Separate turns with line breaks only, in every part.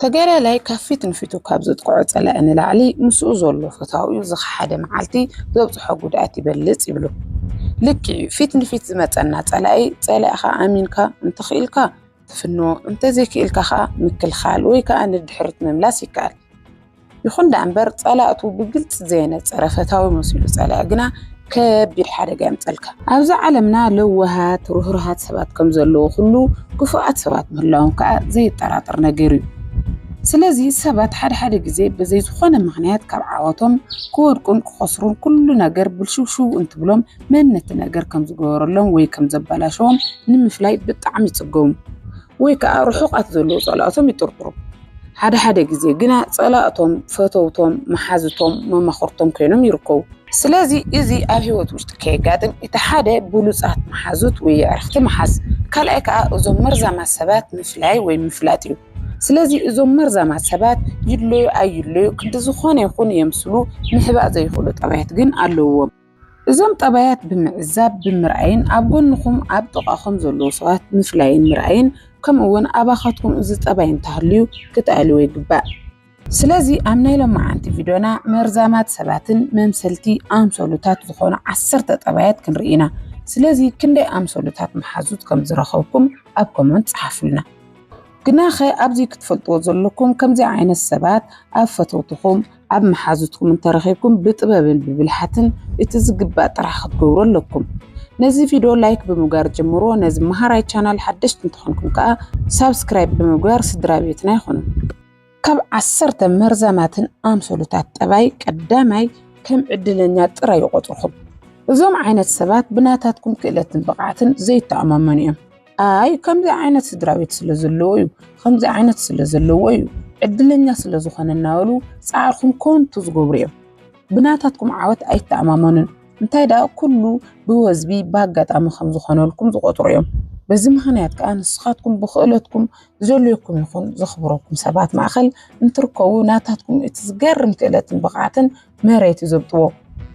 ተጋዳላይ ካብ ፊት ንፊቱ ካብ ዘጥቅዖ ጸላኢ ንላዕሊ ምስኡ ዘሎ ፈታዊኡ ዝኸሓደ መዓልቲ ዘብጽሖ ጉድኣት ይበልጽ ይብሉ። ልክዕ እዩ፣ ፊት ንፊት ዝመጸና ጸላኢ ጸሊእኻ ኣሚንካ እንተኽኢልካ ትፍንዎ፣ እንተዘይክኢልካ ከኣ ምክልኻል ወይ ከኣ ንድሕሪት ምምላስ ይከኣል። ይኹን ደኣ እምበር ጸላእቱ ብግልጺ ዘየነጸረ ፈታዊ መሲሉ ጸላኢ ግና ከቢድ ሓደጋ የምጸልካ። ኣብዛ ዓለምና ለዋሃት፣ ርህሩሃት ሰባት ከም ዘለዉ ኩሉ ክፉኣት ሰባት ምህላዎም ከኣ ዘየጠራጥር ነገር እዩ። ስለዚ ሰባት ሓደ ሓደ ግዜ ብዘይ ዝኾነ ምኽንያት ካብ ዓወቶም ክወድቁን ክኸስሩን ኩሉ ነገር ብልሽውሽው እንትብሎም መን ነቲ ነገር ከም ዝገበረሎም ወይ ከም ዘበላሸዎም ንምፍላይ ብጣዕሚ ይጽገሙ። ወይ ከዓ ርሑቃት ዘለዉ ፀላእቶም ይጥርጥሩ። ሓደ ሓደ ግዜ ግና ፀላእቶም ፈተውቶም፣ መሓዙቶም፣ መማኽርቶም ኮይኖም ይርከቡ። ስለዚ እዚ ኣብ ህይወት ውሽጢ ከየጋጥም እቲ ሓደ ብሉፃት መሓዙት ወይ የዕርኽቲ ምሓዝ፣ ካልኣይ ከዓ እዞም መርዛማት ሰባት ምፍላይ ወይ ምፍላጥ እዩ። ስለዚ እዞም መርዛማት ሰባት ይድለዩ ኣይድለዩ ክንዲ ዝኾነ ይኹን የምስሉ ምሕባእ ዘይኽእሉ ጠባያት ግን ኣለዉዎም። እዞም ጠባያት ብምዕዛብ፣ ብምርኣይን ኣብ ጎንኹም ኣብ ጥቓኹም ዘለዉ ሰባት ምፍላይን ምርኣይን ከምኡውን ኣባኻትኩም እዚ ጠባይ እንተሃልዩ ክትኣልይዎ ይግባእ። ስለዚ ኣብ ናይ ሎማዓንቲ ቪድዮና መርዛማት ሰባትን መምሰልቲ ኣምሰሉታት ዝኾኑ ዓሰርተ ጠባያት ክንርኢ ኢና። ስለዚ ክንደይ ኣምሰሉታት መሓዙት ከም ዝረኸብኩም ኣብ ኮመንት ጽሓፉልና። ግናኸ ኣብዚ ክትፈልጥዎ ዘለኩም ከምዚ ዓይነት ሰባት ኣብ ፈተውትኹም፣ ኣብ መሓዙትኩም እንተረኺብኩም ብጥበብን ብብልሓትን እቲ ዝግባእ ጥራሕ ክትገብሩ ኣለኩም። ነዚ ቪድዮ ላይክ ብምግባር ጀምሮ ነዚ መሃራይ ቻናል ሓደሽቲ እንተኾንኩም ከዓ ሳብስክራይብ ብምግባር ስድራ ቤትና ይኹኑ። ካብ ዓሰርተ መርዛማትን ኣምሰሉታት ጠባይ ቀዳማይ ከም ዕድለኛ ጥራይ ይቆፅርኹም። እዞም ዓይነት ሰባት ብናታትኩም ክእለትን ብቕዓትን ዘይተኣማመኑ እዮም። ኣይ ከምዚ ዓይነት ስድራቤት ስለ ዘለዎ እዩ ከምዚ ዓይነት ስለ ዘለዎ እዩ ዕድለኛ ስለ ዝኾነ እናበሉ ፃዕርኹም ኮንቱ ዝገብሩ እዮም ብናታትኩም ዓወት ኣይተኣማመኑን እንታይ ደኣ ኩሉ ብወዝቢ ብኣጋጣሚ ከም ዝኾነልኩም ዝቆፅሩ እዮም በዚ ምክንያት ከዓ ንስኻትኩም ብክእለትኩም ዘለኩም ይኹን ዘኽብረኩም ሰባት ማእኸል እንትርከቡ ናታትኩም እቲ ዝገርም ክእለትን ብቕዓትን መሬት ይዘብጥዎ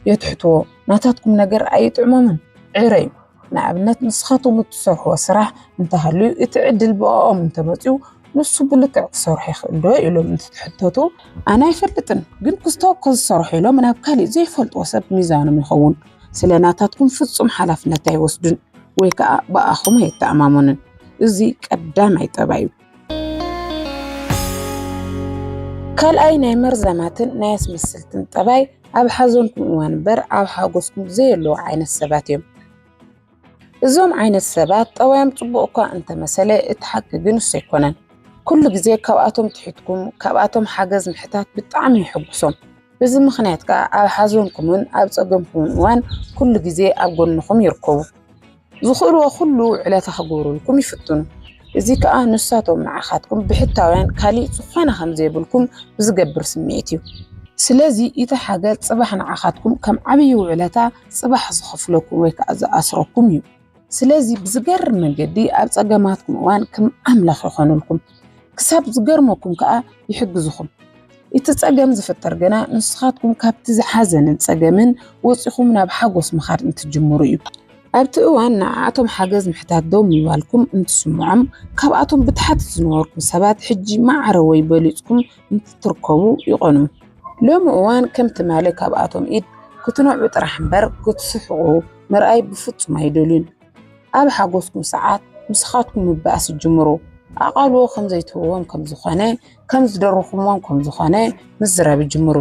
የትሕትዎ ናታትኩም ነገር ኣይጥዕሞምን ዕረ እዩ ንኣብነት ንስኻቶም እትሰርሕዎ ስራሕ እንተሃልዩ እቲ ዕድል ብኦም እንተመፅኡ ንሱ ብልክዕ ክሰርሑ ይኽእል ዶ ኢሎም እንትትሕተቱ ኣነ ኣይፈልጥን ግን ክስቶ እኮ ዝሰርሑ ኢሎም ናብ ካሊእ ዘይፈልጥዎ ሰብ ሚዛኖም ይኸውን ስለ ናታትኩም ፍፁም ሓላፍነት ኣይወስዱን ወይ ከዓ ብኣኹም ኣይተኣማመኑን እዚ ቀዳማይ ጠባይ እዩ። ካልኣይ ናይ መርዛማትን ናይ ኣስመስልትን ጠባይ ኣብ ሓዘንኩም እዋን እምበር ኣብ ሓጎስኩም ዘየለዉ ዓይነት ሰባት እዮም። እዞም ዓይነት ሰባት ጠባዮም ጽቡቕ እኳ እንተመሰለ እቲ ሓቂ ግን እሱ ኣይኮነን። ኩሉ ግዜ ካብኣቶም ትሕትኩም ካብኣቶም ሓገዝ ምሕታት ብጣዕሚ ይሕጉሶም። በዚ ምኽንያት ከዓ ኣብ ሓዘንኩምን ኣብ ጸገምኩምን እዋን ኩሉ ግዜ ኣብ ጎንኹም ይርከቡ። ዝኽእልዎ ኩሉ ውዕለታ ክግብሩልኩም ይፍትኑ። እዚ ከኣ ንሳቶም ንዓኻትኩም ብሕታውያን ካልእ ዝኾነ ከም ዘይብልኩም ብዝገብር ስምዒት እዩ። ስለዚ እቲ ሓገዝ ጽባሕ ንዓኻትኩም ከም ዓብዪ ውዕለታ ጽባሕ ዝኸፍለኩም ወይ ከኣ ዝኣስረኩም እዩ። ስለዚ ብዝገርም መንገዲ ኣብ ጸገማትኩም እዋን ከም ኣምላኽ ይኾኑልኩም። ክሳብ ዝገርመኩም ከኣ ይሕግዝኹም። እቲ ጸገም ዝፍጠር ግና ንስኻትኩም ካብቲ ሓዘንን ጸገምን ወጺኹም ናብ ሓጎስ ምኻድ እንትትጅምሩ እዩ። ኣብቲ እዋን ንዓኣቶም ሓገዝ ምሕታት ደው ምባልኩም እንትስምዖም፣ ካብኣቶም ብታሕቲ ዝነበርኩም ሰባት ሕጂ ማዕረ ወይ በሊጽኩም እንትትርከቡ ይቐንዩ። ሎሚ እዋን ከም ትማሊ ካብኣቶም ኢድ ክትነዕቁ ጥራሕ እምበር ክትስሕቑ ምርኣይ ብፍጹም ኣይደልዩን። ኣብ ሓጎስኩም ሰዓት ምስኻትኩም ምባእስ ይጅምሩ። ኣቓልቦ ከም ዘይትህብዎም ከም ዝኾነ፣ ከም ዝደረኹምዎም ከም ዝኾነ ምዝራብ ይጅምሩ።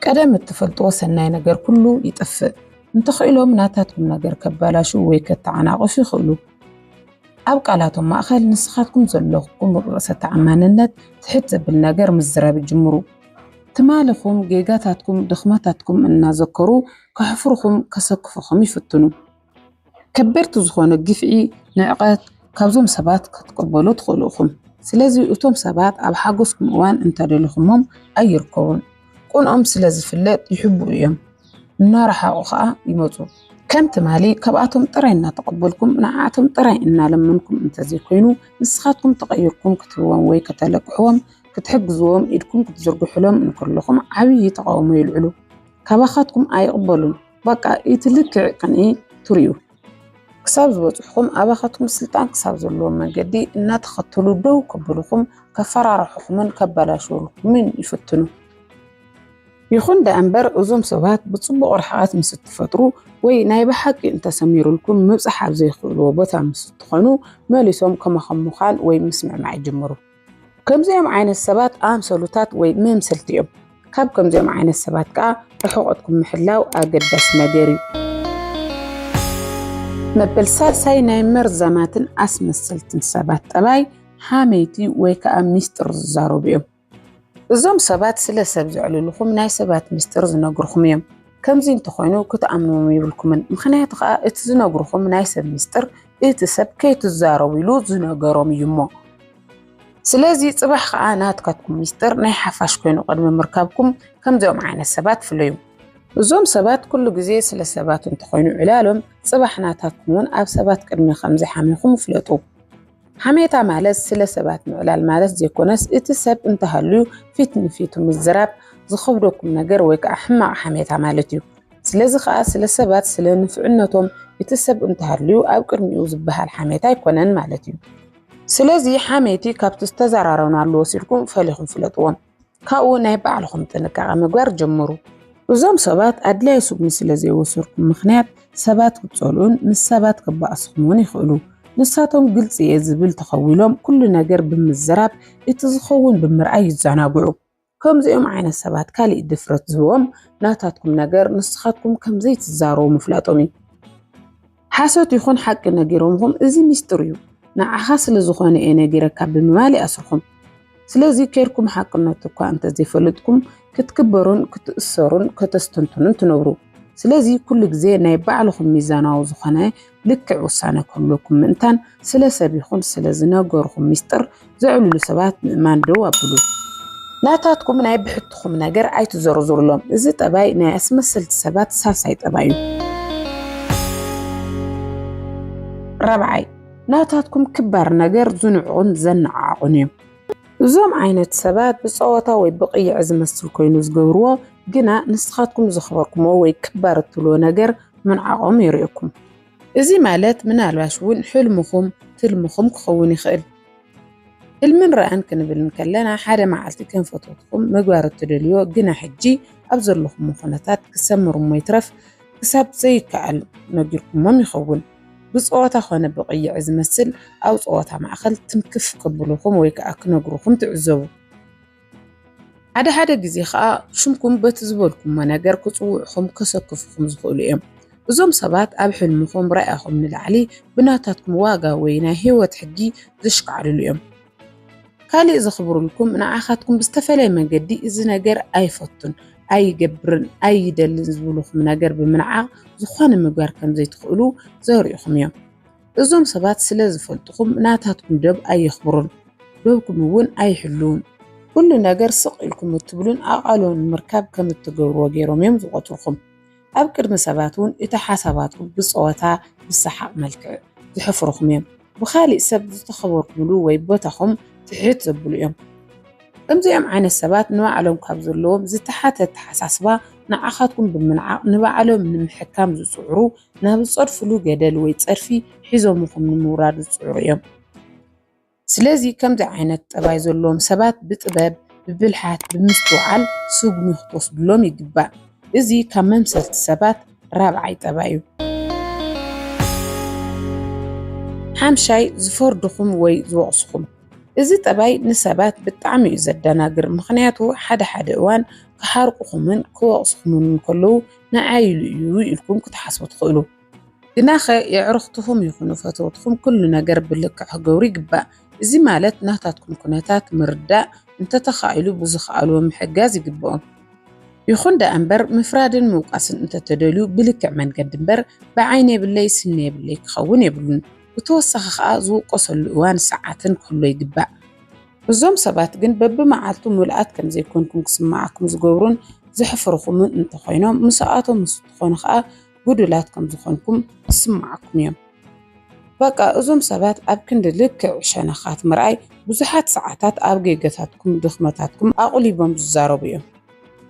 ቀደም እትፈልጥዎ ሰናይ ነገር ኩሉ ይጥፍእ። እንተኽኢሎም ናታትኩም ነገር ከባላሹ ወይ ከተዓናቕፉ ይኽእሉ። ኣብ ቃላቶም ማእኸል ንስኻትኩም ዘለኩም ርእሰ ተኣማንነት ትሕት ዘብል ነገር ምዝራብ ይጅምሩ። ትማልኹም፣ ጌጋታትኩም፣ ድኽመታትኩም እናዘከሩ ከሕፍሩኹም፣ ከሰክፉኹም ይፍትኑ። ከበድቲ ዝኾኑ ግፍዒ፣ ንዕቀት ካብዞም ሰባት ክትቅበሉ ትኽእሉ ኢኹም። ስለዚ እቶም ሰባት ኣብ ሓጎስኩም እዋን እንተደሊኹሞም ኣይርከቡን። ቅንኦም ስለ ዝፍለጥ ይሕብኡ እዮም፣ እናረሓቑ ኸኣ ይመጹ። ከም ትማሊ ካብኣቶም ጥራይ እናተቐበልኩም፣ ንዓኣቶም ጥራይ እናለመንኩም እንተዘይኮይኑ፣ ንስኻትኩም ተቐይርኩም ክትህብዎም ወይ ከተለቅሕዎም፣ ክትሕግዝዎም ኢድኩም ክትዝርግሑሎም እንከለኹም ዓብዪ ተቓውሞ የልዕሉ። ካባኻትኩም ኣይቕበሉን። ባቃ ኢቲ ልክዕ ቅንኢ ትሪኡ ክሳብ ዝበፅሑኹም ኣባኻትኩም ስልጣን ክሳብ ዘለዎም መንገዲ እናተኸተሉ ደው ከብሉኹም ከፈራርሑኹምን ከበላሽውልኩምን ይፍትኑ። ይኹን ደኣምበር እዞም ሰባት ብፅቡቕ ርሕቐት ምስ እትፈጥሩ ወይ ናይ ብሓቂ እንተሰሚሩልኩም ምብፃሕ ኣብ ዘይኽእልዎ ቦታ ምስ እትኾኑ መሊሶም ከማኹም ምዃን ወይ ምስምዕማዕ ይጅምሩ። ከምዚኦም ዓይነት ሰባት ኣምሰሉታት ወይ መምሰልቲ እዮም። ካብ ከምዚኦም ዓይነት ሰባት ከዓ ርሕቐትኩም ምሕላው ኣገዳሲ ነገር እዩ። መበል ሳልሳይ ናይ መርዛማትን ኣስመሰልትን ሰባት ጠባይ ሓመይቲ ወይ ከዓ ሚስጥር ዝዛረቡ እዮም። እዞም ሰባት ስለ ሰብ ዘዕልልኹም ናይ ሰባት ሚስጥር ዝነግርኹም እዮም። ከምዚ እንተኾይኑ ክትኣምንዎም ይብልኩምን ምኽንያቱ ከኣ እቲ ዝነግርኹም ናይ ሰብ ምስጢር እቲ ሰብ ከይትዛረቡ ኢሉ ዝነገሮም እዩ እሞ ስለዚ ጽባሕ ከኣ ናትካትኩም ምስጢር ናይ ሓፋሽ ኮይኑ ቅድሚ ምርካብኩም ከምዚኦም ዓይነት ሰባት ፍለዩ እዞም ሰባት ኩሉ ግዜ ስለ ሰባት እንተኾይኑ ዕላሎም ጽባሕ ናታትኩም እውን ኣብ ሰባት ቅድሚ ከምዘይሓሚኹም ፍለጡ። ሓሜታ ማለት ስለ ሰባት ምዕላል ማለት ዘይኮነስ እቲ ሰብ እንተሃልዩ ፊት ንፊቱ ምዝራብ ዝኸብደኩም ነገር ወይ ከዓ ሕማቕ ሓሜታ ማለት እዩ። ስለዚ ከዓ ስለ ሰባት ስለ ንፍዕነቶም እቲ ሰብ እንተሃልዩ ኣብ ቅድሚኡ ዝበሃል ሓሜታ ኣይኮነን ማለት እዩ። ስለዚ ሓሜቲ ካብቲ ዝተዘራረብናሉ ወሲድኩም ፈሊኹም ፍለጥዎ። ካብኡ ናይ ባዕልኹም ጥንቃቐ ምግባር ጀምሩ። እዞም ሰባት ኣድላይ ስጉሚ ስለ ዘይወሰድኩም ምኽንያት ሰባት ክጸልኡን ምስ ሰባት ክባእስኹም እውን ይኽእሉ። ንሳቶም ግልጺ እየ ዝብል ተኸዊሎም ኩሉ ነገር ብምዝራብ እቲ ዝኸውን ብምርኣይ ይዘናግዑ። ከምዚኦም ዓይነት ሰባት ካሊእ ድፍረት ዝህቦም ናታትኩም ነገር ንስኻትኩም ከምዘይትዛረቡ ምፍላጦም እዩ። ሓሶት ይኹን ሓቂ ነጊሮምኹም እዚ ሚስጥር እዩ ንዓኻ ስለ ዝኾነ እየ ነጊረካ ብምባል ይኣስርኹም። ስለዚ ኬርኩም ሓቅነቱ እኳ እንተዘይፈለጥኩም ክትክበሩን ክትእሰሩን ከተስተንትኑን ትነብሩ። ስለዚ ኩሉ ግዜ ናይ ባዕልኹም ሚዛናዊ ዝኾነ ልክዕ ውሳነ ክህልወኩም ምእንታን ስለ ሰብ ይኹን ስለ ዝነገርኹም ሚስጥር ዘዕልሉ ሰባት ምእማን ደው ኣብሉ። ናታትኩም ናይ ብሕትኹም ነገር ኣይትዘርዝሩሎም። እዚ ጠባይ ናይ ኣስመሰልቲ ሰባት ሳልሳይ ጠባይ እዩ። ራብዓይ፣ ናታትኩም ክባር ነገር ዝንዕቑን ዘነዓዕቑን እዮም። እዞም ዓይነት ሰባት ብጸወታ ወይ ብቕይዕ ዝመስል ኮይኑ ዝገብርዎ ግና ንስኻትኩም ዘኽበርኩሞ ወይ ክባር እትብልዎ ነገር ምንዓቖም የርእየኩም። እዚ ማለት ምናልባሽ እውን ሕልምኹም ትልምኹም ክኸውን ይኽእል። ህልምን ራእን ክንብል እንከለና ሓደ መዓልቲ ከም ፈተውትኹም ምግባር እትደልዮ ግና ሕጂ ኣብ ዘለኹሞ ኩነታት ክሰምር እሞ ይትረፍ ክሳብ ዘይከኣል ነጊርኩሞም ይኸውን ብጸወታ ኮነ ብቕይዒ ዝመስል ኣብ ጸወታ ማእከል ትንክፍ ክብሉኹም ወይ ከኣ ክነግሩኹም ትዕዘቡ። ሓደ ሓደ ግዜ ኸኣ ሽምኩም በቲ ዝበልኩሞ ነገር ክጽውዑኹም ከሰክፉኹም ዝኽእሉ እዮም። እዞም ሰባት ኣብ ሕልምኹም ራእኹም ንላዕሊ ብናታትኩም ዋጋ ወይ ናይ ህይወት ሕጊ ዘሽካዕልሉ እዮም። ካልእ ዘኽብሩልኩም ንዓኻትኩም ብዝተፈለየ መንገዲ እዚ ነገር ኣይፈቱን፣ ኣይገብርን፣ ኣይደልን ዝብሉኹም ነገር ብምንዓቕ ዝኾነ ምግባር ከም ዘይትኽእሉ ዘርእኹም እዮም። እዞም ሰባት ስለ ዝፈልጥኹም ናታትኩም ዶብ ኣየኽብሩን ዶብኩም እውን ኣይሕልዉን። ኩሉ ነገር ስቕ ኢልኩም እትብሉን ኣቓልቦ ንምርካብ ከም እትገብርዎ ገይሮም እዮም ዝቖጽርኩም። ኣብ ቅድሚ ሰባት እውን እቲ ሓሳባትኩም ብጸወታ ብሰሓቕ መልክዕ ዝሕፍሩኹም እዮም። ብኻሊእ ሰብ ዝተኸበርኩምሉ ወይ ቦታኹም ትሕት ዘብሉ እዮም። ከምዚኦም ዓይነት ሰባት ንባዕሎም ካብ ዘለዎም ዝተሓተ ኣተሓሳስባ ንዓኻትኩም ብምንዓቕ ንባዕሎም ንምሕካም ዝጽዕሩ ናብ ዝጸድፍሉ ገደል ወይ ጸድፊ ሒዞምኹም ንምውራድ ዝጽዕሩ እዮም። ስለዚ ከምዚ ዓይነት ጠባይ ዘለዎም ሰባት ብጥበብ፣ ብብልሓት፣ ብምስትውዓል ስጉሚ ክትወስድሎም ይግባእ። እዚ ካብ መምሰልቲ ሰባት ራብዓይ ጠባይ እዩ። ሓምሻይ፣ ዝፈርዱኹም ወይ ዝወቕሱኹም። እዚ ጠባይ ንሰባት ብጣዕሚ እዩ ዘደናግር፣ ምኽንያቱ ሓደ ሓደ እዋን ክሓርቁኹምን ክወቕሱኹምን እንከለዉ ንዓይ ኢሉ እዩ ኢልኩም ክትሓስቡ ትኽእሉ። ግናኸ የዕሩኽትኹም ይኹኑ ፈተውትኹም ኩሉ ነገር ብልክዕ ክገብሩ ይግባእ። እዚ ማለት ናታትኩም ኩነታት ምርዳእ፣ እንተተኻኢሉ ብዝኸኣልዎ ምሕጋዝ ይግበኦም። ይኹን ደኣ እምበር ምፍራድን ምውቃስን እንተተደልዩ ብልክዕ መንገዲ እምበር ብዓይኒ የብለይ ስኒ የብለይ ክኸውን የብሉን። ብተወሳኺ ከኣ ዝውቀሰሉ እዋን ሰዓትን ክህሎ ይግባእ። እዞም ሰባት ግን በብመዓልቱ ምሉኣት ከም ዘይኮንኩም ክስምዓኩም ዝገብሩን ዘሕፍርኹምን እንተኾይኖም ምስኣቶም ምስ እትኾኑ ከዓ ጉዱላት ከም ዝኾንኩም ይስምዓኩም እዮም። በቃ እዞም ሰባት ኣብ ክንዲ ልክዕ ሸነኻት ምርኣይ ብዙሓት ሰዓታት ኣብ ጌገታትኩም ድኽመታትኩም ኣቑሊቦም ዝዛረቡ እዮም።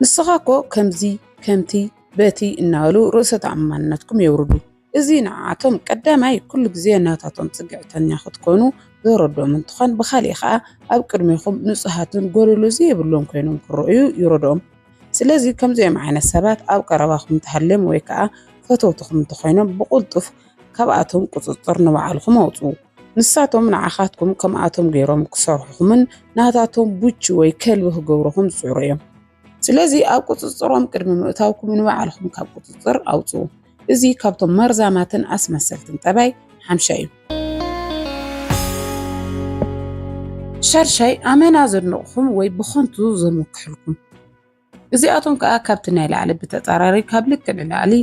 ንስኻ እኮ ከምዚ ከምቲ በቲ እናበሉ ርእሰ ተኣማንነትኩም የውርዱ። እዚ ንዓኣቶም ቀዳማይ ኩሉ ግዜ ናታቶም ጽግዕተኛ ክትኮኑ ዘረድኦም እንትኾን ብኻሊእ ኸኣ ኣብ ቅድሜኹም ንጹሃትን ጎደሎ ዘይብሎም ኮይኖም ክረኣዩ ይረድኦም። ስለዚ ከምዚኦም ዓይነት ሰባት ኣብ ቀረባኹም እንተሃልዮም ወይ ከኣ ፈተውትኹም እንተኾይኖም ብቕልጡፍ ካብኣቶም ቁጽጽር ንባዕልኹም ኣውጽኡ። ንሳቶም ንዓኻትኩም ከምኣቶም ገይሮም ክሰርሑኹምን ናታቶም ቡቺ ወይ ከልቢ ክገብሩኹም ዝጽዕሩ እዮም። ስለዚ ኣብ ቁጽጽሮም ቅድሚ ምእታውኩም ንባዕልኹም ካብ ቁጽጽር ኣውጽኡ። እዚ ካብቶም መርዛማትን ኣስመሰልትን ጠባይ ሓምሻይ እዩ። ሻድሻይ ኣመና ዘድንቕኹም ወይ ብኸንቱ ዘምክሕልኩም እዚኣቶም ከዓ ካብቲ ናይ ላዕሊ ብተፃራሪ ካብ ልክዕ ንላዕሊ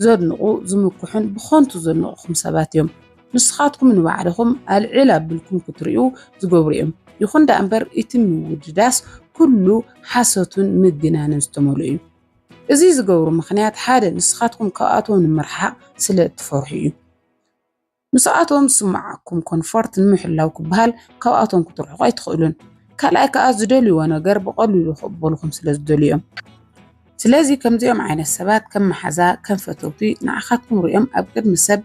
ዘድንቑ ዝምክሑን ብኸንቱ ዘድንቕኹም ሰባት እዮም። ንስኻትኩም ንባዕልኹም ኣልዕል ኣብልኩም ክትሪኡ ዝገብሩ እዮም። ይኹን ደኣ እምበር እቲ ምውድዳስ ኩሉ ሓሶትን ምግናንን ዝተመልኦ እዩ። እዚ ዝገብሩ ምኽንያት ሓደ ንስኻትኩም ካብኣቶም ንምርሓቕ ስለ እትፈርሑ እዩ። ምስኣቶም ዝስምዓኩም ኮንፎርት ንምሕላው ክበሃል ካብኣቶም ክትርሕቁ ኣይትኽእሉን። ካልኣይ ከኣ ዝደልይዎ ነገር ብቐሊሉ ክቕበሉኹም ስለ ዝደልዩ እዮም። ስለዚ ከምዚኦም ዓይነት ሰባት ከም መሓዛ ከም ፈተውቲ ንዓኻትኩም ሪኦም ኣብ ቅድሚ ሰብ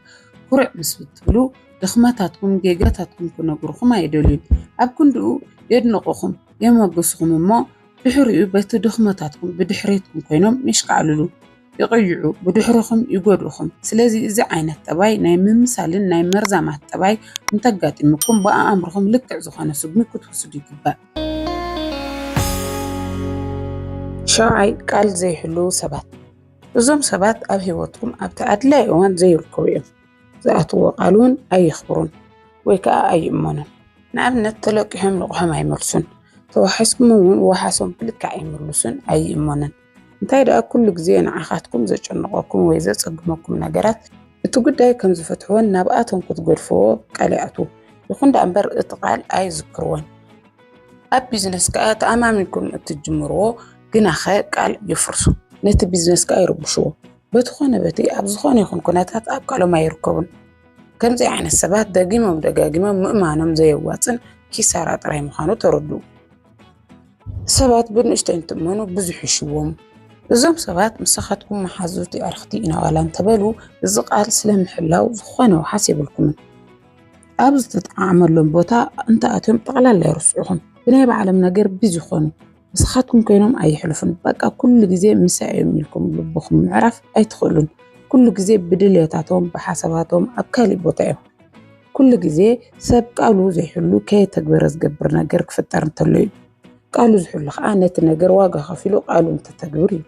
ኩርዕ ምስ ብትብሉ ድኽመታትኩም ጌጋታትኩም ክነግሩኹም ኣይደልዩን። ኣብ ክንድኡ የድንቑኹም የሞግሱኹም እሞ ድሕሪኡ በቲ ድኽመታትኩም ብድሕሬትኩም ኮይኖም የሽካዕልሉ፣ ይቕይዑ፣ ብድሕርኹም ይጎድኡኹም። ስለዚ እዚ ዓይነት ጠባይ ናይ ምምሳልን ናይ መርዛማት ጠባይ እንተጋጢሙኩም ብኣእምርኹም ልክዕ ዝኾነ ስጉሚ ክትውስዱ ይግባእ። ሻውዓይ፣ ቃል ዘይሕልዉ ሰባት። እዞም ሰባት ኣብ ህይወትኩም ኣብቲ ኣድላዪ እዋን ዘይርከቡ እዮም። ዝኣትዎ ቃል እውን ኣየኽብሩን ወይ ከዓ ኣይእመኑን። ንኣብነት ተለቂሖም ልቕሖም ኣይመልሱን፣ ተዋሒስኩም እውን ዋሕሶም ብልክዕ ኣይምልሱን፣ ኣይእመኑን። እንታይ ደኣ ኩሉ ግዜ ንዓኻትኩም ዘጨንቐኩም ወይ ዘፀግመኩም ነገራት እቲ ጉዳይ ከም ዝፈትሕዎን ናብኣቶም ክትገድፍዎ ቃል ይኣትዉ። ይኹን ደኣ እምበር እቲ ቃል ኣይዝክርዎን። ኣብ ቢዝነስ ከዓ ተኣማሚንኩም እትጅምርዎ ግናኸ ቃል የፍርሱ፣ ነቲ ቢዝነስ ከዓ ይርብሽዎ። በቲ ኾነ በቲ ኣብ ዝኾነ ይኹን ኩነታት ኣብ ቃሎም ኣይርከቡን። ከምዚ ዓይነት ሰባት ደጊሞም ደጋጊሞም ምእማኖም ዘየዋፅን ኪሳራ ጥራይ ምዃኑ ተረዱ። ሰባት ብንእሽተይ እንትእመኑ ብዙሕ ይሽዎም። እዞም ሰባት ምሳኻትኩም መሓዙት የዕርኽቲ ኢና ዋላ እንተበሉ እዚ ቃል ስለምሕላው ዝኾነ ውሓስ የብልኩምን። ኣብ ዝተጠዓመሎም ቦታ እንተኣትዮም ጠቕላላ ይርስዑኹም። ብናይ ባዕሎም ነገር ቢዚ ይኾኑ። ንስኻትኩም ኮይኖም ኣይሕልፉን በቃ ኩሉ ግዜ ምሳይ እዮም ኢልኩም ልብኹም ምዕራፍ ኣይትኽእሉን ኩሉ ግዜ ብድልየታቶም ብሓሳባቶም ኣብ ካሊእ ቦታ እዮም ኩሉ ግዜ ሰብ ቃሉ ዘይሕሉ ከየተግበረ ዝገብር ነገር ክፍጠር እንተሎ እዩ ቃሉ ዝሕሉ ከዓ ነቲ ነገር ዋጋ ከፊሉ ቃሉ እንተተግብር እዩ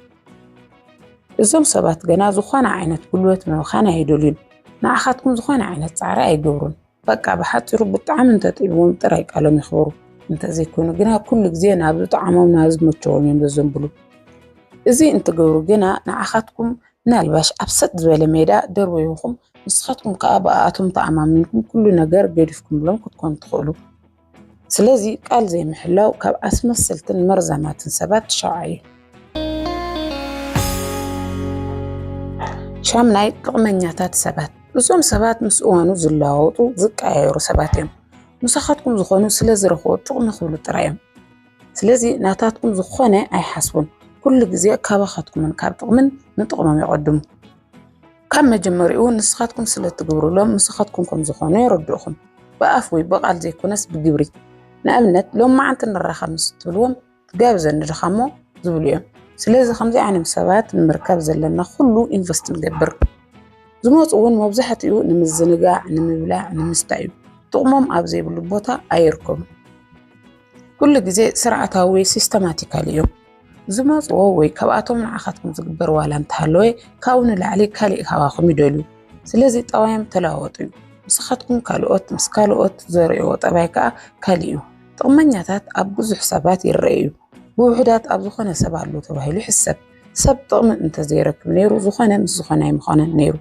እዞም ሰባት ገና ዝኾነ ዓይነት ጉልበት ምብኻን ኣይደልዩን ንዓኻትኩም ዝኾነ ዓይነት ፃዕሪ ኣይገብሩን በቃ ብሓፂሩ ብጣዕሚ እንተጥዒምዎም ጥራይ ቃሎም ይኽበሩ እንተዘይኮይኑ ግና ኩሉ ግዜ ናብ ዝጠዓሞም ናብ ዝመቸዎም እዮም ዘዘንብሉ እዚ እንትገብሩ ግና ንዓኻትኩም ምናልባሽ ኣብ ሰጥ ዝበለ ሜዳ ደርበይኹም ንስኻትኩም ከዓ ብኣኣቶም ተኣማሚንኩም ኩሉ ነገር ገዲፍኩምሎም ክትኮኑ ትኽእሉ ስለዚ ቃል ዘይምሕላው ካብ ኣስመሰልትን መርዛማትን ሰባት ትሻውዓ እዩ። ሻምናይ ጥቕመኛታት ሰባት እዞም ሰባት ምስ እዋኑ ዝለዋወጡ ዝቀያየሩ ሰባት እዮም። ምሳኻትኩም ዝኾኑ ስለ ዝረኽቦ ጥቕሚ ክብሉ ጥራይ እዮም። ስለዚ ናታትኩም ዝኾነ ኣይሓስቡን። ኩሉ ግዜ ካባኻትኩምን ካብ ጥቕምን ንጥቕሞም ይቐድሙ። ካብ መጀመሪኡ ንስኻትኩም ስለ እትግብሩሎም ንስኻትኩም ከም ዝኾኑ የረድኡኹም። ብኣፍ ወይ ብቓል ዘይኮነስ ብግብሪ። ንኣብነት ሎም መዓንቲ ንራኸብ ምስ እትብልዎም ትጋብዘኒ ድኻ እሞ ዝብሉ እዮም። ስለዚ ከምዚ ዓይነት ሰባት ንምርካብ ዘለና ኩሉ ኢንቨስት ንገብር። ዝመፁ እውን መብዛሕትኡ ንምዝንጋዕ፣ ንምብላዕ፣ ንምስታይ እዩ። ጥቕሞም ኣብ ዘይብሉ ቦታ ኣይርከቡን። ኩሉ ግዜ ስርዓታዊ ወይ ሲስተማቲካል እዮም። ዝመጽዎ ወይ ካብኣቶም ንዓኻትኩም ዝግበር ዋላ እንተሃለወ ካብኡ ንላዕሊ ካሊእ ካባኹም ይደልዩ። ስለዚ ጠባዮም ተለዋወጡ እዩ። ንስኻትኩም ካልኦት ምስ ካልኦት ዘርእዎ ጠባይ ከኣ ካልእ እዩ። ጥቕመኛታት ኣብ ብዙሕ ሰባት ይረኣዩ እዩ። ብውሑዳት ኣብ ዝኾነ ሰብ ኣሎ ተባሂሉ ይሕሰብ። ሰብ ጥቕሚ እንተዘይረክብ ነይሩ ዝኾነ ምስ ዝኾነ ኣይምኾነን ነይሩ።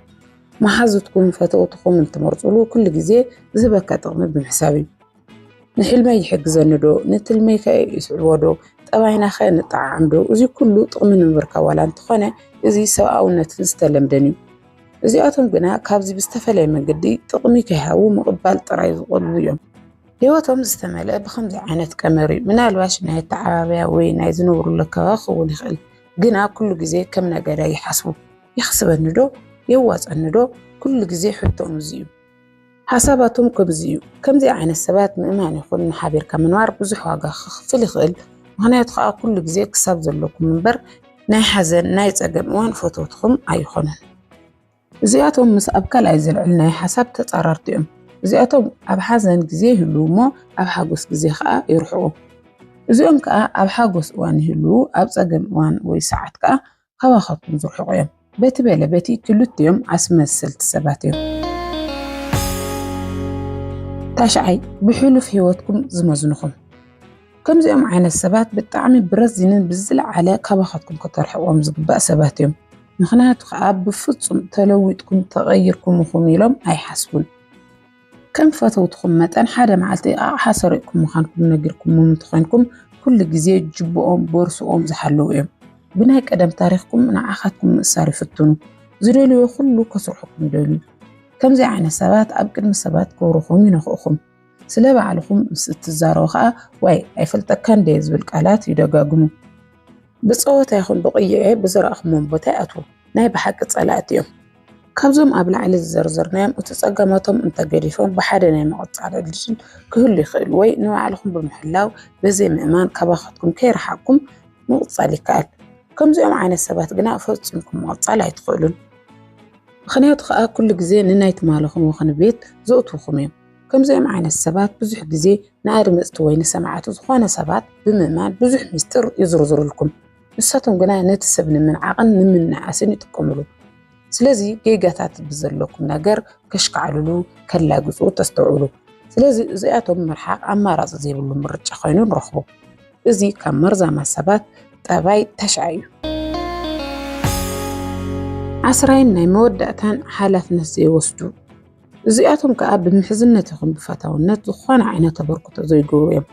መሓዙትኩም ፈተውትኹም እትመርጹሉ ኩሉ ግዜ ዝህበካ ጥቕሚ ብምሕሳብ እዩ። ንሕልመይ ይሕግዘኒ ዶ ንትልመይ ከ ይስዕቦ ዶ ጠባይና ከ ንጠዓዓም ዶ እዚ ኩሉ ጥቕሚ ንምርካብ ዋላ እንተኾነ እዚ ሰብኣውነትን ዝተለምደን እዩ እዚኣቶም ግና ካብዚ ብዝተፈለየ መንገዲ ጥቕሚ ከይሃቡ ምቕባል ጥራይ ዝቖልቡ እዮም ህይወቶም ዝተመልአ ብከምዚ ዓይነት ቀመር እዩ ምናልባሽ ናይ ኣተዓባብያ ወይ ናይ ዝነብሩሉ ኣከባቢ ክኸውን ይኽእል ግና ኩሉ ግዜ ከም ነጋዳይ ይሓስቡ። ይኽስበኒ ዶ የዋፀኒ ዶ ኩሉ ግዜ ሕቶኦም እዚ እዩ። ሓሳባቶም ከምዚ እዩ። ከምዚ ዓይነት ሰባት ምእማን ይኹን ሓቢርካ ምንባር ብዙሕ ዋጋ ክኽፍል ይኽእል። ምክንያቱ ከዓ ኩሉ ግዜ ክሳብ ዘለኩም እምበር ናይ ሓዘን ናይ ፀገም እዋን ፈተውትኹም ኣይኾኑን። እዚኣቶም ምስ ኣብ ካልኣይ ዘልዕል ናይ ሓሳብ ተፃራርቲ እዮም። እዚኣቶም ኣብ ሓዘን ግዜ ይህልዉ እሞ ኣብ ሓጎስ ግዜ ከዓ ይርሕቁ። እዚኦም ከዓ ኣብ ሓጎስ እዋን ይህልዉ ኣብ ፀገም እዋን ወይ ሰዓት ከዓ ካባኻትኩም ዝርሕቑ እዮም። በቲ በለ በቲ ክልቲኦም ኣስመሰልቲ ሰባት እዮም። ታሽዓይ ብሕሉፍ ህይወትኩም ዝመዝንኹም ከምዚኦም ዓይነት ሰባት ብጣዕሚ ብረዚንን ብዝለዓለ ካባኻትኩም ከተርሕዎም ዝግባእ ሰባት እዮም። ምኽንያቱ ከዓ ብፍጹም ተለዊጥኩም ተቐይርኩም ኢኹም ኢሎም ኣይሓስቡን። ከም ፈተውትኹም መጠን ሓደ መዓልቲ ኣቕሓ ሰሪቕኩም ምዃንኩም ነጊርኩምዎም እንተኾይንኩም ኩሉ ግዜ ጅብኦም ቦርስኦም ዝሓለዉ እዮም ብናይ ቀደም ታሪኽኩም ንዓኻትኩም ምእሳር ይፍትኑ ዝደልዮ ኩሉ ከስርሑኩም ይደልዩ ከምዚ ዓይነት ሰባት ኣብ ቅድሚ ሰባት ክብርኹም ይነኽእኹም ስለ ባዕልኹም ምስ እትዛረቡ ከዓ ዋይ ኣይፈልጠካን ደየ ዝብል ቃላት ይደጋግሙ ብጸወታ ይኹን ብቕይዔ ብዝረኣኹሞም ቦታ ይኣትዉ። ናይ ብሓቂ ጸላእቲ እዮም። ካብዞም ኣብ ላዕሊ ዝዘርዘርናዮም እቲ ጸገማቶም እንተገዲፎም ብሓደ ናይ ምቕጻል ዕድል ክህሉ ይኽእል ወይ ንባዕልኹም ብምሕላው በዘይ ምእማን ካባኻትኩም ከይረሓቕኩም ምቕጻል ይከኣል። ከምዚኦም ዓይነት ሰባት ግና ፈጺምኩም ምቕጻል ኣይትኽእሉን። ምኽንያቱ ከኣ ኩሉ ግዜ ንናይ ትማልኹም ወኽኒ ቤት ዘእትዉኹም እዮም። ከምዚኦም ዓይነት ሰባት ብዙሕ ግዜ ንኣድመጽቲ ወይ ንሰማዕቲ ዝኾነ ሰባት ብምእማን ብዙሕ ምስጢር ይዝርዝሩልኩም። ንሳቶም ግና ነቲ ሰብ ንምንዓቕን ንምንእኣስን ይጥቀሙሉ። ስለዚ ጌጋታት ብዘለኩም ነገር ከሽካዕልሉ፣ ከላግጹ ተስተውዕሉ። ስለዚ እዚኣቶም ምርሓቕ ኣማራጺ ዘይብሉ ምርጫ ኮይኑ ንረኽቦ። እዚ ካብ መርዛማ ሰባት ጠባይ ተሽዓ እዩ። ዓስራይን ናይ መወዳእታን ሓላፍነት ዘይወስዱ እዚኣቶም ከኣ ብምሕዝነት ይኹን ብፈታውነት ዝኾነ ዓይነት ተበርክቶ ዘይገብሩ እዮም።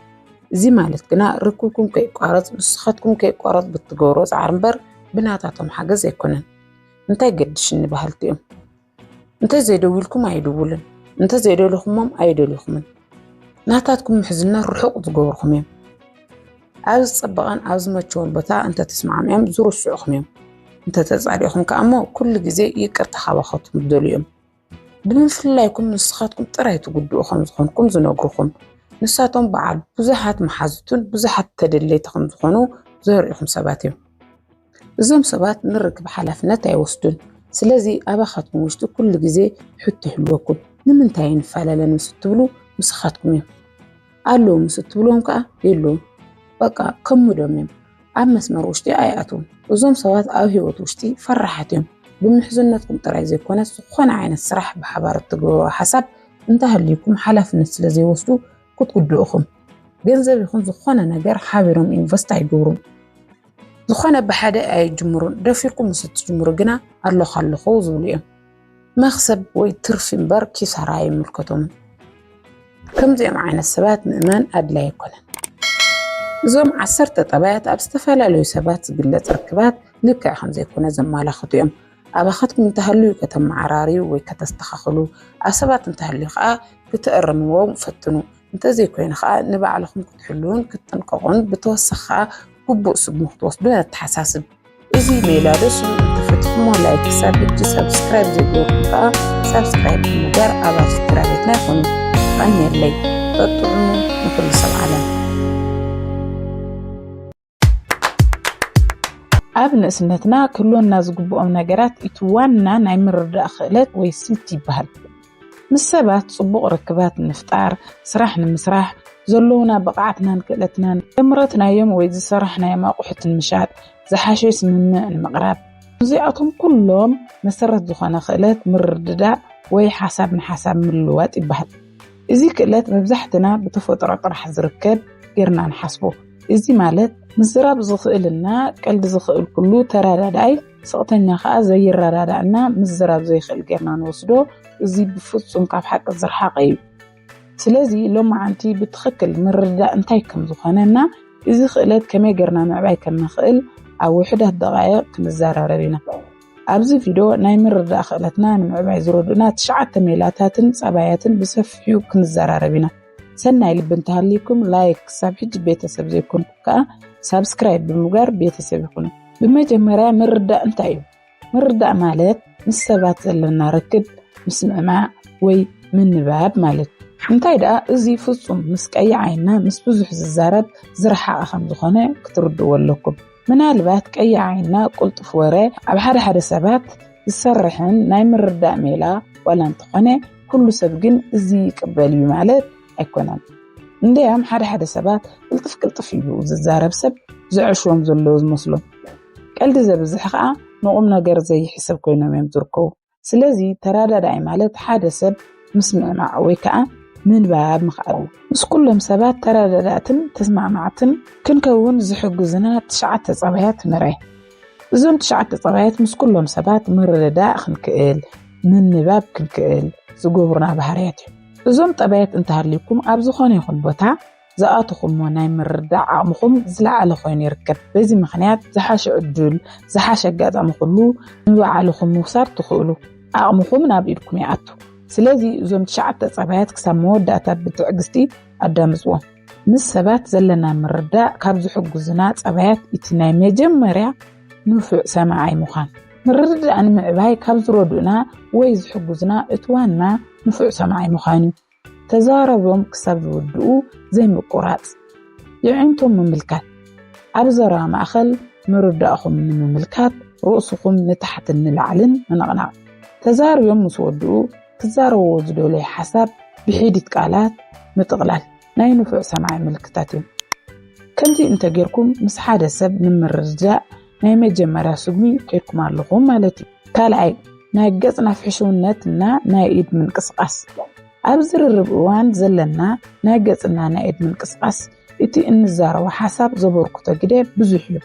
እዚ ማለት ግና ርክብኩም ከይቋረጽ ንስኻትኩም ከይቋረጽ ብትገብሮ ጻዕሪ እምበር ብናታቶም ሓገዝ ኣይኮነን። እንታይ ገድሽኒ በሃልቲ እዮም። እንተዘይደዊልኩም ኣይድውልን፣ እንተዘይደለኹሞም ኣይደልኹምን። ናታትኩም ምሕዝነት ርሑቕ ዝገብርኹም እዮም። ኣብ ዝጸበቐን ኣብ ዝመቸወን ቦታ እንተተስማዕሚኦም ዝርስዑኹም እዮም። እንተተጻሊእኹም ከኣ እሞ ኩሉ ግዜ ይቅርታ ካባኻትኩም ዝደልዩ እዮም። ብምፍልላይኩም ንስኻትኩም ጥራይ ትጉድኡ ከም ዝኾንኩም ዝነግሩኹም ንሳቶም በዓል ብዙሓት መሓዙትን ብዙሓት ተደለይቲ ከም ዝኾኑ ዘርእኹም ሰባት እዮም። እዞም ሰባት ንርክብ ሓላፍነት ኣይወስዱን። ስለዚ ኣባኻትኩም ውሽጢ ኩሉ ግዜ ሕቶ ይህልወኩም ንምንታይ ንፈላለ ምስ እትብሉ ምስኻትኩም እዮም። ኣለዉ ምስ እትብሎም ከዓ የለዉን በቃ ከሙዶም እዮም ኣብ መስመር ውሽጢ ኣይኣትዉን እዞም ሰባት ኣብ ሂወት ውሽጢ ፈራሓት እዮም ብምሕዝነትኩም ጥራይ ዘይኮነ ዝኾነ ዓይነት ስራሕ ብሓባር እትገብርዎ ሓሳብ እንተሃልዩኩም ሓላፍነት ስለ ዘይወስዱ ክትጉድኡኹም ገንዘብ ይኹን ዝኾነ ነገር ሓቢሮም ኢንቨስት ኣይገብሩን ዝኾነ ብሓደ ኣይጅምሩን ደፊርኩም ምስ እትጅምሩ ግና ኣለኹ ኣለኹ ዝብሉ እዮም መኽሰብ ወይ ትርፊ እምበር ኪሳራ ኣይምልከቶምን። ከምዚኦም ዓይነት ሰባት ምእማን ኣድላይ ኣይኮነን። እዞም ዓሰርተ ጠባያት ኣብ ዝተፈላለዩ ሰባት ዝግለጽ ርክባት ልክዕ ከም ዘይኮነ ዘመላኽቱ እዮም። ኣባኻትኩም እንተሃልዩ ከተመዓራርዩ ወይ ከተስተኻኽሉ፣ ኣብ ሰባት እንተሃልዩ ከኣ ክትእርምዎ ፈትኑ። እንተዘይኮይኑ ከኣ ንባዕልኹም ክትሕልዉን ክትጥንቀቑን ብተወሳኺ ከኣ ግቡእ ስጉምቲ ክትወስዱን ነተሓሳስብ። እዚ ሜላ ደስ ዝብል እንትፈትሕሞ ላይክ ክሳብ ሕጂ ሳብስክራይብ ዘይገበርኩም ከዓ ሳብስክራይብ ብምግባር ኣባል ስድራ ቤትና ይኹኑ። ተቐንየለይ በጥዑሙ ንኹሉ ሰብ ዓለም ኣብ ንእስነትና ክህልወና ዝግብኦም ነገራት እቲ ዋና ናይ ምርዳእ ክእለት ወይ ስልት ይበሃል። ምስ ሰባት ጽቡቕ ርክባት ንምፍጣር፣ ስራሕ ንምስራሕ፣ ዘለዉና ብቕዓትናን ክእለትናን፣ ዘምረትናዮም ወይ ዝሰራሕናዮም ኣቑሑት ንምሻጥ፣ ዝሓሸ ስምምዕ ንምቕራብ። ንዚኣቶም ኩሎም መሰረት ዝኾነ ክእለት ምርድዳእ ወይ ሓሳብ ንሓሳብ ምልውዋጥ ይበሃል። እዚ ክእለት መብዛሕትና ብተፈጥሮ ጥራሕ ዝርከብ ጌርና ንሓስቦ። እዚ ማለት ምዝራብ ዝኽእልና ቀልዲ ዝኽእል ኩሉ ተረዳዳኣይ፣ ስቕተኛ ከኣ ዘይረዳዳእና ምዝራብ ዘይክእል ጌርና ንወስዶ፣ እዚ ብፍጹም ካብ ሓቂ ዝረሓቐ እዩ። ስለዚ ሎማዓንቲ ብትኽክል ምርድዳእ እንታይ ከም ዝኾነ እና እዚ ክእለት ከመይ ጌርና ምዕባይ ከም ንኽእል ኣብ ውሑዳት ደቓይቕ ክንዘራረብ ኢና። ኣብዚ ቪድዮ ናይ ምርድዳእ ክእለትና ንምዕባይ ዝረድኡና ትሽዓተ ሜላታትን ጸባያትን ብሰፊሑ ክንዘራረብ ኢና። ሰናይ ልቢ እንተሃልዩኩም ላይክ፣ ክሳብ ሕጂ ቤተሰብ ዘይኮንኩም ከኣ ሳብስክራይብ ብምግባር ቤተሰብ ይኹኑ። ብመጀመርያ ምርዳእ እንታይ እዩ? ምርዳእ ማለት ምስ ሰባት ዘለና ርክብ
ምስምዕማዕ ወይ ምንባብ ማለት እዩ። እንታይ ደኣ እዚ ፍጹም ምስ ቀይሕ ዓይንና ምስ ብዙሕ ዝዛረብ ዝረሓቐ ከም ዝኾነ ክትርድእዎ ኣለኩም። ምናልባት ቀይሕ ዓይንና ቅልጡፍ ወረ ኣብ ሓደ ሓደ ሰባት ዝሰርሕን ናይ ምርዳእ ሜላ ዋላ እንተኾነ ኩሉ ሰብ ግን እዚ ይቅበል እዩ ማለት ኣይኮነን። እንደያም ሓደ ሓደ ሰባት ቅልጥፍ ቅልጥፍ ኢሉ ዝዛረብ ሰብ ዘዕሽዎም ዘለዎ ዝመስሎም ቀልዲ ዘብዝሕ ከዓ ንቑም ነገር ዘይሕሰብ ኮይኖም እዮም ዝርከቡ። ስለዚ ተረዳዳኢ ማለት ሓደ ሰብ ምስምዕማዕ ወይ ከዓ ምንባብ ምኽኣል እዩ። ምስ ኩሎም ሰባት ተረዳዳእትን ተስማዕማዕትን ክንከውን ዝሕግዙና ትሽዓተ ፀባያት ንርኣይ። እዞም ትሽዓተ ጠባያት ምስ ኩሎም ሰባት ምርድዳእ ክንክእል፣ ምንባብ ክንክእል ዝገብሩና ባህርያት እዮም። እዞም ጠባያት እንተሃልዩኩም ኣብ ዝኾነ ይኹን ቦታ ዝኣተኹሞ ናይ ምርዳእ ዓቕምኹም ዝለዓለ ኮይኑ ይርከብ። በዚ ምክንያት ዝሓሸ ዕዱል፣ ዝሓሸ ኣጋጣሚ ኩሉ ንባዕልኹም ምውሳድ ትኽእሉ። ዓቕምኹም ናብ ኢድኩም ይኣቱ። ስለዚ እዞም ትሽዓተ ጠባያት ክሳብ መወዳእታ ብትዕግስቲ ኣዳምፅዎም። ምስ ሰባት ዘለና ምርዳእ ካብ ዝሕግዙና ጸባያት እቲ ናይ መጀመርያ ንፉዕ ሰማዓይ ምዃን ምርድዳእ ንምዕባይ ካብ ዝረድኡና ወይ ዝሕግዙና እቲ ዋና ንፉዕ ሰማዓይ ምዃን እዩ። ተዛረቦም ክሳብ ዝውድኡ ዘይምቁራጽ፣ የዒንቶም ምምልካት፣ ኣብ ዘረባ ማእከል ምርዳእኹም ንምምልካት ርእስኹም ንታሕትን ንላዕልን ምንቕናቕ፣ ተዛርዮም ምስ ወድኡ ክዛረቦ ዝደለዮ ሓሳብ ብሒዲት ቃላት ምጥቕላል ናይ ንፉዕ ሰማዒ ምልክታት እዮም። ከምዚ እንተ ጌርኩም ምስ ሓደ ሰብ ንምርድዳእ ናይ መጀመርያ ስጉሚ ኬድኩም ኣለኹም ማለት እዩ። ካልኣይ፣ ናይ ገጽ ናፍሕሽውነት እና ናይ ኢድ ምንቅስቓስ። ኣብ ዝርርብ እዋን ዘለና ናይ ገጽና ናይ ኢድ ምንቅስቓስ እቲ እንዛረቦ ሓሳብ ዘበርክቶ ግደ ብዙሕ እዩ።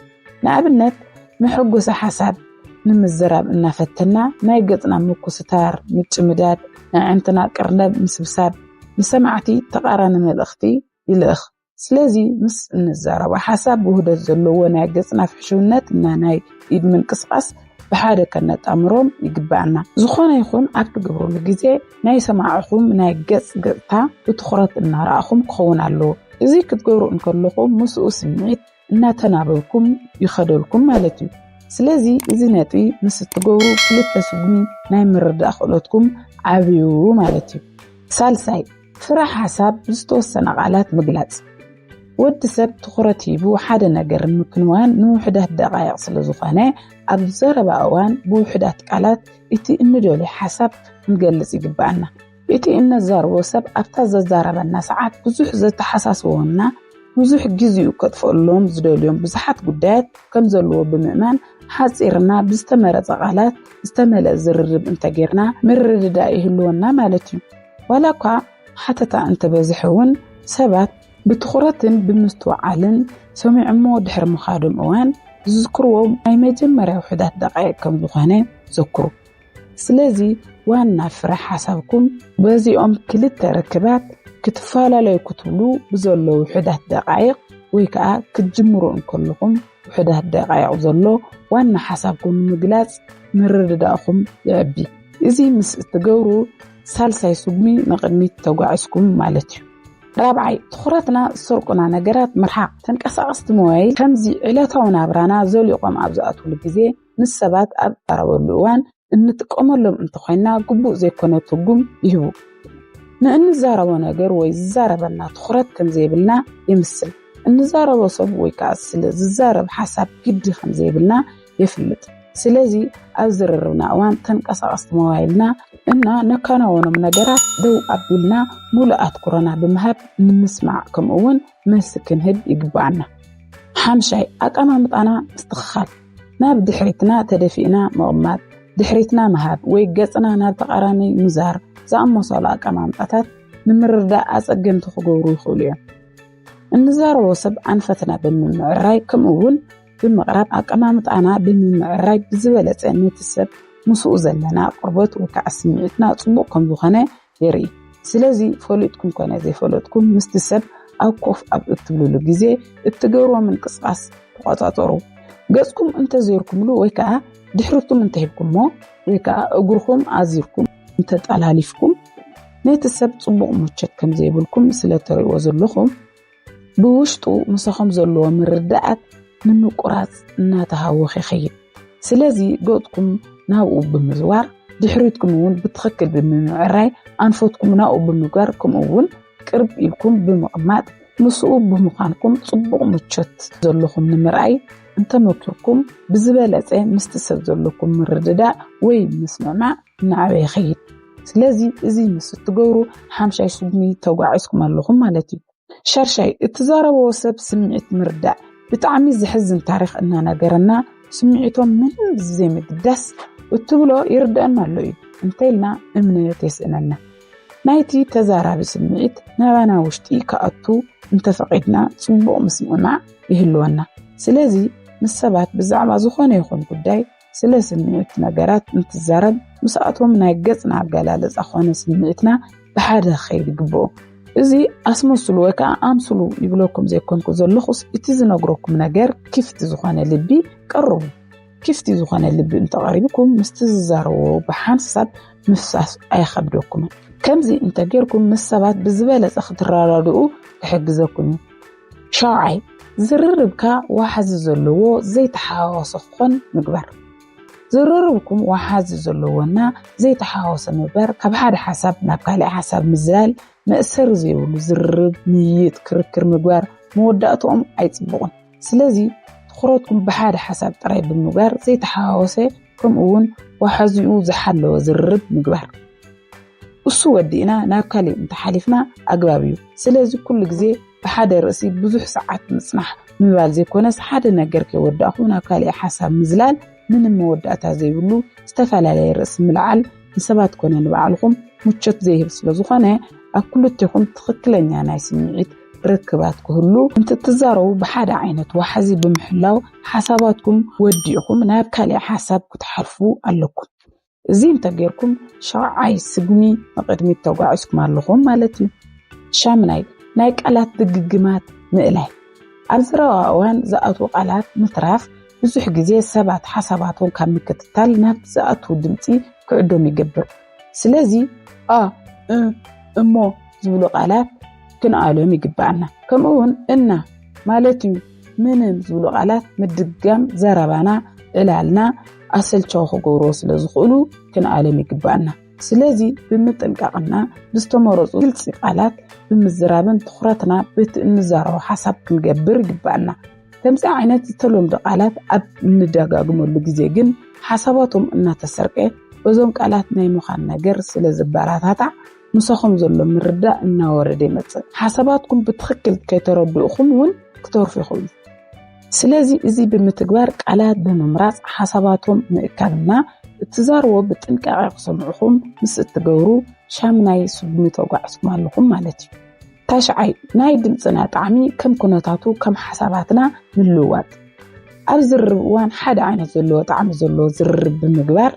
ንኣብነት መሐጎሲ ሓሳብ ንምዝራብ እናፈተና ናይ ገጽና ምኩስታር፣ ምጭምዳድ፣ ኣዕንትና ቅርነብ ምስብሳብ ንሰማዕቲ ተቓራኒ መልእኽቲ ይልእኽ። ስለዚ ምስ እንዛረቦ ሓሳብ ውህደት ዘለዎ ናይ ገጽና ፍሕሽውነት እና ናይ ኢድ ምንቅስቓስ ብሓደ ከነጣምሮም ይግብኣና። ዝኾነ ይኹን ኣብ ትገብርሉ ግዜ ናይ ሰማዕኹም ናይ ገጽ ገጽታ ብትኹረት እናረኣኹም ክኸውን ኣለዎ። እዚ ክትገብሩ እንከለኹም ምስኡ ስምዒት እናተናበብኩም ይኸደልኩም ማለት እዩ። ስለዚ እዚ ነጥቢ ምስ እትገብሩ ክልተ ስጉሚ ናይ ምርዳእ ክእለትኩም ዓብዩ ማለት እዩ። ሳልሳይ ፍረ ሓሳብ ብዝተወሰነ ቃላት ምግላጽ ወዲ ሰብ ትኹረት ሂቡ ሓደ ነገር ንምክንዋን ንውሕዳት ደቓይቕ ስለ ዝኾነ ኣብ ዘረባ እዋን ብውሕዳት ቃላት እቲ እንደልዮ ሓሳብ ክንገልጽ ይግብኣና። እቲ እነዛርቦ ሰብ ኣብታ ዘዛረበና ሰዓት ብዙሕ ዘተሓሳስቦና ብዙሕ ግዜኡ ከጥፍእሎም ዝደልዮም ብዙሓት ጉዳያት ከም ዘለዎ ብምእማን ሓፂርና ብዝተመረፀ ቃላት ዝተመልአ ዝርርብ እንተጌርና ምርድዳእ ይህልወና ማለት እዩ። ዋላ እኳ ሓተታ እንተበዝሐ እውን ሰባት ብትኹረትን ብምስትውዓልን ሰሚዖሞ ድሕሪ ምኻዶም እዋን ዝዝክርዎ ናይ መጀመርያ ውሑዳት ደቃይቅ ከም ዝኾነ ዘክሩ። ስለዚ ዋና ፍረ ሓሳብኩም በዚኦም ክልተ ርክባት ክትፈላለዩ ክትብሉ ብዘሎ ውሑዳት ደቃይቅ ወይ ከዓ ክትጅምሩ እንከለኹም ውሑዳት ደቃይቅ ዘሎ ዋና ሓሳብኩም ንምግላፅ ምርድዳእኹም የዕቢ። እዚ ምስ እትገብሩ ሳልሳይ ስጉሚ ንቕድሚት ተጓዒዝኩም ማለት እዩ። ራብዓይ፣ ትኹረትና ዝሰርቁና ነገራት ምርሓቕ። ተንቀሳቐስቲ ሞባይል ከምዚ ዕለታዊ ናብራና ዘሊቖም ኣብ ዝኣትውሉ ግዜ፣ ምስ ሰባት ኣብ እትዛረበሉ እዋን እንጥቀመሎም እንተኾይንና ግቡእ ዘይኮነ ትርጉም ይህቡ። ንእንዛረቦ ነገር ወይ ዝዛረበና ትኹረት ከምዘይብልና የምስል። እንዛረቦ ሰብ ወይ ከዓ ስለ ዝዛረብ ሓሳብ ግዲ ከምዘይብልና የፍልጥ። ስለዚ ኣብ ዝርርብና እዋን ተንቀሳቐስቲ ሞባይልና እና ነካናወኖም ነገራት ደው ኣቢልና ሙሉእ ኣትኩሮና ብምሃብ ንምስማዕ ከምኡ እውን መልሲ ክንህብ ይግባኣና። ሓምሻይ ኣቀማምጣና ምስትኽኻል ናብ ድሕሪትና ተደፊእና ምቕማጥ፣ ድሕሪትና ምሃብ ወይ ገፅና ናብ ተቃራኒ ምዛር ዝኣመሰሉ ኣቀማምጣታት ንምርዳእ ኣፀገምቲ ክገብሩ ይኽእሉ እዮም። እንዛረቦ ሰብ ኣንፈትና ብምምዕራይ ከምኡ እውን ብምቕራብ ኣቀማምጣና ብምምዕራይ ብዝበለፀ ነቲ ሰብ ምስኡ ዘለና ቅርበት ወይ ከዓ ስምዒትና ፅቡቕ ከም ዝኾነ የርኢ። ስለዚ ፈሊጥኩም ኮነ ዘይፈለጥኩም ምስቲ ሰብ ኣብ ኮፍ ኣብ እትብልሉ ግዜ እትገብርዎ ምንቅስቓስ ተቆፃፀሩ። ገፅኩም እንተዘይርኩምሉ ወይ ከዓ ድሕርኩም እንተሂብኩሞ ወይ ከዓ እግርኹም ኣዚርኩም እንተጠላሊፍኩም ነቲ ሰብ ፅቡቕ ምቾት ከም ዘይብልኩም ስለተርእይዎ ዘለኹም ብውሽጡ ምሳኹም ዘለዎ ምርዳኣት ንምቁራጽ እናተሃወኸ ይኸይድ። ስለዚ ገጽኩም ናብኡ ብምዝዋር ድሕሪትኩም እውን ብትኽክል ብምምዕራይ ኣንፈትኩም ናብኡ ብምግባር ከምኡ እውን ቅርብ ኢልኩም ብምቕማጥ ምስኡ ብምዃንኩም ጽቡቕ ምቾት ዘለኹም ንምርኣይ እንተመኪርኩም ብዝበለጸ ምስቲ ሰብ ዘለኩም ምርድዳእ ወይ ምስምዕማዕ እናዓበየ ይኸይድ። ስለዚ እዚ ምስ እትገብሩ ሓምሻይ ስጉምቲ ተጓዒዝኩም ኣለኹም ማለት እዩ። ሻርሻይ እትዛረበዎ ሰብ ስምዒት ምርዳእ ብጣዕሚ ዘሕዝን ታሪኽ እናነገረና ስምዒቶም ምንም ብዘይምግዳስ እትብሎ ይርድአና ኣሎ እዩ እንተኢልና እምነት የስእነና። ናይቲ ተዛራቢ ስምዒት ናባና ውሽጢ ክኣቱ እንተፈቒድና ጽቡቕ ምስምዕማዕ ይህልወና። ስለዚ ምስ ሰባት ብዛዕባ ዝኾነ ይኹን ጉዳይ ስለ ስምዒት ነገራት እንትዛረብ ምስኣቶም ናይ ገጽና ኣገላልጻ ኮነ ስምዒትና ብሓደ ክኸይድ ይግብኦ። እዚ ኣስመስሉ ወይ ከዓ ኣምስሉ ይብለኩም ዘይኮንኩ ዘለኹስ እቲ ዝነግረኩም ነገር ክፍቲ ዝኾነ ልቢ ቀርቡ። ክፍቲ ዝኾነ ልቢ እንተቐሪብኩም ምስቲ ዝዛረብዎ ብሓንሳብ ምፍሳስ ኣይኸብደኩምን። ከምዚ እንተጌርኩም ምስ ሰባት ብዝበለጸ ክትረዳድኡ ክሕግዘኩም እዩ። ሻውዓይ፣ ዝርርብካ ወሓዚ ዘለዎ ዘይተሓዋወሰ ክኾን ምግባር። ዝርርብኩም ወሓዚ ዘለዎና ዘይተሓዋወሰ ምግባር ካብ ሓደ ሓሳብ ናብ ካልእ ሓሳብ ምዝላል መእሰሪ ዘይብሉ ዝርርብ፣ ምይይጥ፣ ክርክር ምግባር መወዳእትኦም ኣይጽቡቕን። ስለዚ ትኹረትኩም ብሓደ ሓሳብ ጥራይ ብምግባር ዘይተሓዋወሰ ከምኡውን ወሓዚኡ ዝሓለወ ዝርርብ ምግባር። እሱ ወዲእና ናብ ካሊእ እንተሓሊፍና ኣግባብ እዩ። ስለዚ ኩሉ ግዜ ብሓደ ርእሲ ብዙሕ ሰዓት ምጽናሕ ምባል ዘይኮነስ ሓደ ነገር ከይወዳእኹ ናብ ካሊእ ሓሳብ ምዝላል ምንም መወዳእታ ዘይብሉ ዝተፈላለየ ርእሲ ምልዓል ንሰባት ኮነ ንባዕልኹም ምቾት ዘይህብ ስለ ዝኾነ ኣብ ክልቴኹም ትኽክለኛ ናይ ስምዒት ርክባት ክህሉ እንትትዛረቡ ብሓደ ዓይነት ዋሕዚ ብምሕላው ሓሳባትኩም ወዲእኹም ናብ ካሊእ ሓሳብ ክትሓልፉ ኣለኩም። እዚ እንተጌርኩም ሻውዓይ ስጉሚ ንቕድሚት ተጓዒዝኩም ኣለኹም ማለት እዩ። ሻምናይ ናይ ቃላት ድግግማት ምእላይ ኣብ ዝረባ እዋን ዝኣትዉ ቃላት ምትራፍ ብዙሕ ግዜ ሰባት ሓሳባቶም ካብ ምክትታል ናብ ዝኣትዉ ድምፂ ክዕዶም ይገብር። ስለዚ ኣ እሞ ዝብሉ ቃላት ክንኣልዮም ይግብኣና። ከምኡ እውን እና ማለት እዩ። ምንም ዝብሉ ቃላት ምድጋም ዘረባና ዕላልና ኣሰልቻዊ ክገብርዎ ስለ ዝኽእሉ ክንኣለም ይግባኣና። ስለዚ ብምጥንቃቕና ብዝተመረፁ ግልፂ ቃላት ብምዝራብን ትኹረትና በቲ እንዛረቦ ሓሳብ ክንገብር ይግባኣና። ከምዚ ዓይነት ዝተለምዱ ቃላት ኣብ እንደጋግመሉ ግዜ ግን ሓሳባቶም እናተሰርቀ በዞም ቃላት ናይ ምዃን ነገር ስለ ዝበረታታዕ ምሳኹም ዘሎ ምርዳእ እናወረደ ይመጽእ። ሓሳባትኩም ብትኽክል ከይተረድኡኹም እውን ክተርፉ ይኽእሉ። ስለዚ እዚ ብምትግባር ቃላት ብምምራጽ ሓሳባቶም ምእካብና እትዛርቦ ብጥንቃቐ ክሰምዑኹም ምስ እትገብሩ ሻምናይ ስጉሚ ተጓዕዝኩም ኣለኹም ማለት እዩ። ታሽዓይ ናይ ድምፅና ጣዕሚ ከም ኩነታቱ ከም ሓሳባትና ምልዋጥ ኣብ ዝርርብ እዋን ሓደ ዓይነት ዘለዎ ጣዕሚ ዘለዎ ዝርርብ ብምግባር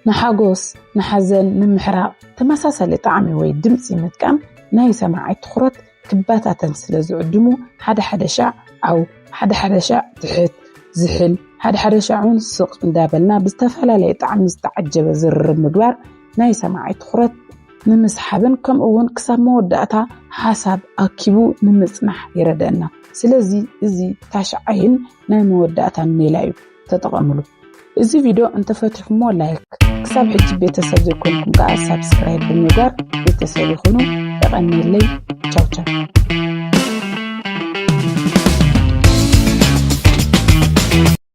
ንሓጎስ ንሓዘን ምምሕራቕ ተመሳሳሊ ጣዕሚ ወይ ድምፂ ምጥቃም ናይ ሰማዓይ ትኹረት ክበታተን ስለ ዝዕድሙ ሓደ ሓደ ሻዕ ዓው ሓደ ሓደ ሻዕ ትሕት ዝሕል ሓደ ሓደ ሻዕ እውን ስቕ እንዳበልና ብዝተፈላለየ ጣዕሚ ዝተዓጀበ ዝርርብ ምግባር ናይ ሰማዓይ ትኹረት ንምስሓብን ከምኡ እውን ክሳብ መወዳእታ ሓሳብ ኣኪቡ ንምፅናሕ ይረደና። ስለዚ እዚ ታሽዓይን ናይ መወዳእታን ሜላ እዩ ተጠቐምሉ። እዚ ቪድዮ እንተፈቲኹሞ ላይክ፣ ክሳብ ሕጂ ቤተሰብ ዘይኮንኩም ከዓ ሳብስክራይብ ብምግባር ቤተሰብ ይኹኑ። የቐኒለይ ቻው ቻው